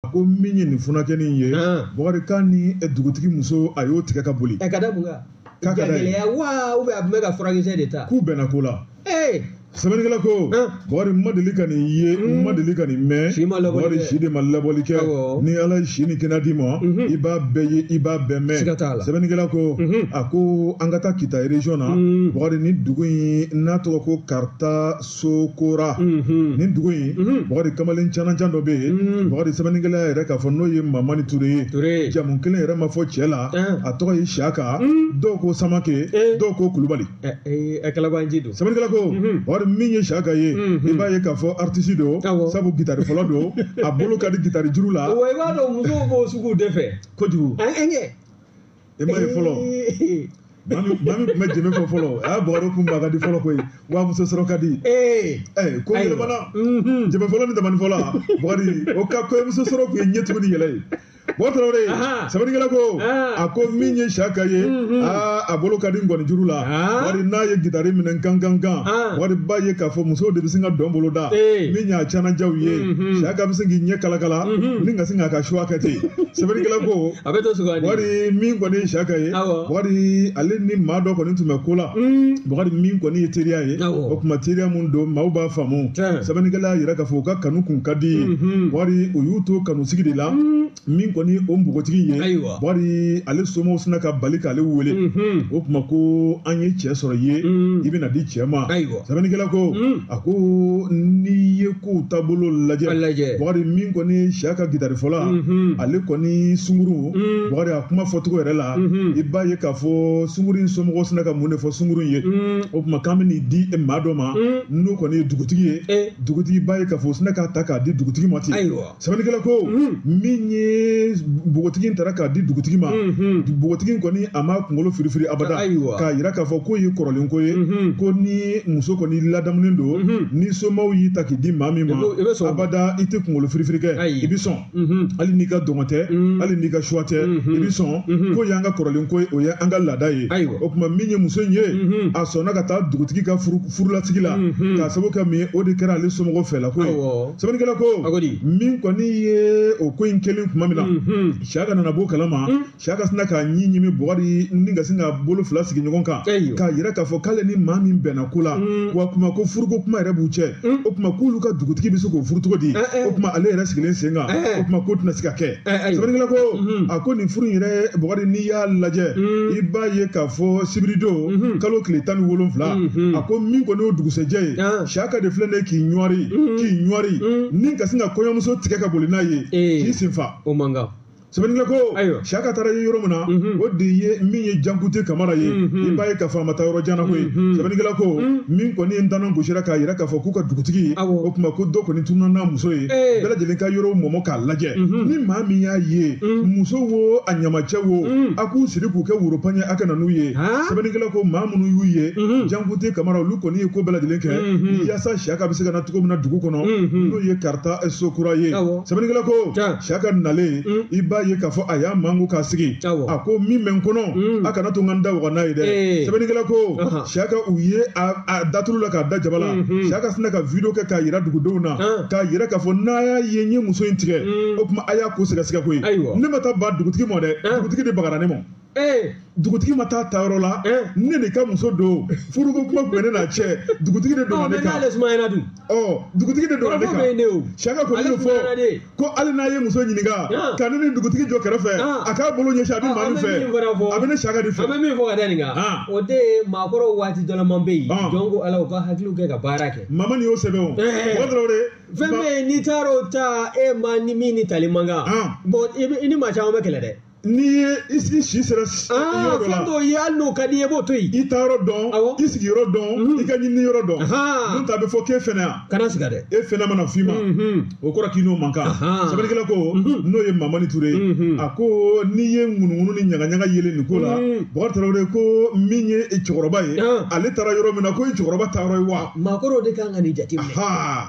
a ko min ye nin funankɛnin in ye bakari k'a ni dugutigi muso a y'o tigɛ ka boli ka da mun kan gɛlɛya wa u bɛ a tun bɛ ka furakɛkisɛ de ta k'u bɛnna ko la sɛbɛnnikɛla ko bakari n ma deli ka nin ye n ma deli ka nin mɛn bakari si de ma laboli kɛ ni ala ye si ni kɛnɛya d'i ma i b'a bɛɛ ye i b'a bɛɛ mɛn sɛbɛnnikɛla ko a ko an ka taa kita region na bakari nin dugu in n'a tɔgɔ ko karita sokora nin dugu in bakari kamalen canajan dɔ bɛ yen bakari sɛbɛnnikɛla yɛrɛ k'a fɔ n'o ye mamani ture ye jamu kelen yɛrɛ ma fɔ cɛ la a tɔgɔ ye siyaka dɔw ko samake dɔw ko kulubali sɛbɛnnikɛla ko bakari min ye siyaka ye i b'a ye k'a fɔ aritisi don sabu gitari fɔla don a bolo ka di gitari juru la i b'a dɔn musow b'o sugu de fɛ kojugu e ma ye fɔlɔ mami mami tun bɛ jɛmɛ fɔ fɔlɔ a y'a bɔgɔdɔ kun ba ka di fɔlɔ koyi wa muso sɔrɔ ka di ko yɛlɛmana jɛmɛ fɔla ni tamani fɔla bakari o ka kɔɲɔmuso sɔrɔ tun ye ɲɛ tugu n'a yɛlɛ ye bɔ tarawele sɛbɛnnikɛla ko a ko min ye siyaka ye a bolo ka di nkɔni juru la bakari n'a ye gitari minɛ gan gan gan bakari b'a ye k'a fɔ musow de bɛ sin ka dɔn bolo da min ye canajan ye siyaka bɛ sin k'i ɲɛ kalakala ni ka sin k'a ka choix kɛ ten sɛbɛnnikɛla ko a bɛ dɔ sugandi bakari min kɔni ye siyaka ye Awɔ. bakari ale ni maa dɔ kɔni tun bɛ ko la Mm, bakari min kɔni ye teriya ye Awɔ. o tuma teriya mun don maaw b'a faamu Tiɲɛ. sɛbɛnnikɛla y'a yira k'a fɔ u ka kanu kun ka di ye Mhm. bakari o y'u to kanu sigi de la mm, min kɔni o npogotigi ye Ayiwa. bakari ale somɔgɔw sinna ka bali k'ale wele mhm, o tuma ko an ye cɛ sɔrɔ i ye Mm. i bɛna di cɛ ma Ayiwa. sɛbɛnnikɛla ko Mm. a ko n'i ye k'u taabolo lajɛ A lajɛ. Bakari min kɔni ye siyaka gitari fɔla Mhm. ale kɔni sunguru Mm. Bakari a kuma fɔcogo yɛrɛ la Mhm. i b'a ye k'a fɔ sunguru in somɔgɔw sinna ka mun de fɔ sunguru in ye Mm. o tuma k'an bɛ n'i di e maa dɔ ma Mm. n'o kɔni ye dugutigi ye Eh. dugutigi b'a ye k'a fɔ u sinna k'a ta k'a di dugutigi ma ten Ayiwa. sɛbɛnnikɛla ko min ye npogotigi in tara ka di dugutigi ma npogotigi in kɔni a ma kunkolo firifiri abada Ayiwa. k'a yira k'a fɔ k'o ye kɔrɔlen ko ye ko ni muso kɔni ladamunen don ni somaw y'i ta k'i di maa min ma I b'o- i bɛ sɔn o ma. abada i tɛ kunkolo firifiri kɛ Ayi. i bɛ sɔn hali n'i ka dungɔ tɛ hali n'i ka choix tɛ i bɛ sɔn k'o y'an ka kɔrɔlen ko ye o ye an ka laada ye Ayiwa. o tuma min ye muso in ye a sɔnna ka taa dugutigi ka furu furulasigi la mhm. k'a sababu kɛ min ye o de kɛra ale somɔgɔw fɛla ko ye sɛbɛnnikɛla ko min kɔni ye o ko in kɛlen tuma min na mhm. siyaka nana b'o kalama mhm. siyaka sinna k'a ɲin ɲimi bakari ni ka sin k'a bolo fila sigi ɲɔgɔn kan k'a yira k'a fɔ k'ale ni maa min bɛnna ko la wa kuma ko furuko kuma yɛrɛ b'u cɛ o tuma k'olu ka dugutigi bɛ se k'o furu cogo di eh, eh. o tuma ale yɛrɛ sigilen sen kan eh, o tuma k'o tɛna se ka kɛ sɛbɛnnikɛla ko a ko nin furu in yɛrɛ bɔgɔdi n'i y'a lajɛ i b'a ye k'a fɔ sibiridon kalo tile tan ni wolonwula a ko min kɔni y'o dugusɛjɛ ye siyaka de filɛ ne k'i ɲɔri k'i ɲɔri ni ka sin ka kɔɲɔmuso tigɛ ka boli n'a ye k'i sen fa o man kan sɛbɛnnikɛla ko siyaka taara yɔrɔ min na o de ye min ye jankute kamara ye i b'a ye k'a fɔ a ma taa yɔrɔ jan na koyi sɛbɛnnikɛla ko min kɔni ye ntanan gosira k'a yira k'a fɔ k'u ka dugutigi o tuma ko dɔ kɔni tununa n'a muso ye bɛɛ lajɛlen ka yɔrɔw mɔmɔ k'a lajɛ ni maa min y'a ye muso wo a ɲamacɛ wo a k'u siri k'u kɛ woropan ye a ka na n'u ye sɛbɛnnikɛla ko maa minnu y'u ye jankute kamara olu kɔni ye ko bɛɛ lajɛlen kɛ yaasa siyaka bɛ se ka na cogo min na dugu kɔnɔ n'o ye karita sokura ye sɛbɛnnikɛla ko siyaka nalen i b'a ye k'a fɔ a y'a manko k'a sigi a ko min bɛ n kɔnɔ a kana to n ka n da waga n'a ye dɛ sɛbɛnnikɛla ko siyaka u ye a da tulu la k'a da jaba la siyaka sinna ka video kɛ k'a yira dugudenw na k'a yira k'a fɔ n'a y'a ye n ye muso in tigɛ o tuma a y'a ko sɛgɛsɛgɛ koyi ne ma taa baga dugutigi ma dɛ dugutigi de bagara ne ma dugutigi ma taa taa yɔrɔ la ne de ka muso don furuko kuma tun bɛ ne n'a cɛ dugutigi de don ne kan dugutigi de don ne kan siyaka ko ne fɔ ko hali n'a ye muso ɲininka ah. ka ne ni dugutigi jɔ kɛrɛfɛ ah. a k'a bolo ɲɛsin a bɛ ah, maa min fɛ a bɛ ne siyaka de fɛ. an bɛ min fɔ ka da nin kan o de ye maakɔrɔw waati dɔ la maa bɛ yen jɔn ko ala u ka hakiliw kɛ ka baara kɛ. mamani y'o sɛbɛn o. Eh. o dɔrɔn de. fɛn bɛ yen n'i taara o ta e maa nin min ni tali man kan bɔn i ni maa caman bɛ kɛlɛ dɛ. n'i ye i sigi si sera s- aa yɔrɔ dɔ fɛn la dɔw ye hali n'o ka di i ye i b'o to yen i taa yɔrɔ dɔn Awɔ. i sigi yɔrɔ dɔn Mhm. i ka ɲinini yɔrɔ dɔn Ahan. n'o tɛ a bɛ fɔ k'e fainéant kana sigi yan dɛ e fainéant mana f'i ma Mhm. o kɔrɔ k'i n'o man kan Ahan. sɛbɛnnikɛla ko Mhm. n'o ye mamani ture ye Mhm. a ko n'i ye ŋunuŋunu ni ɲagaɲaga yelen nin ko la Mhm. bakari tarawele ko min ye cɛkɔrɔba ye Ahan. ale taara yɔrɔ min na k'o ye cɛkɔrɔba taa yɔrɔ ye wa maakɔrɔw de kan ka nin jate minɛ Ahaa.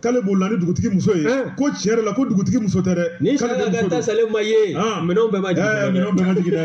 k'ale bolila ni dugutigi muso ye eh. ko tiɲɛ yɛrɛ la ko dugutigi muso tɛ dɛ ni sariya ka taa salen ma ye ah. minɛnw bɛɛ ma jigin eh, dɛ minɛnw bɛɛ ma jigin dɛ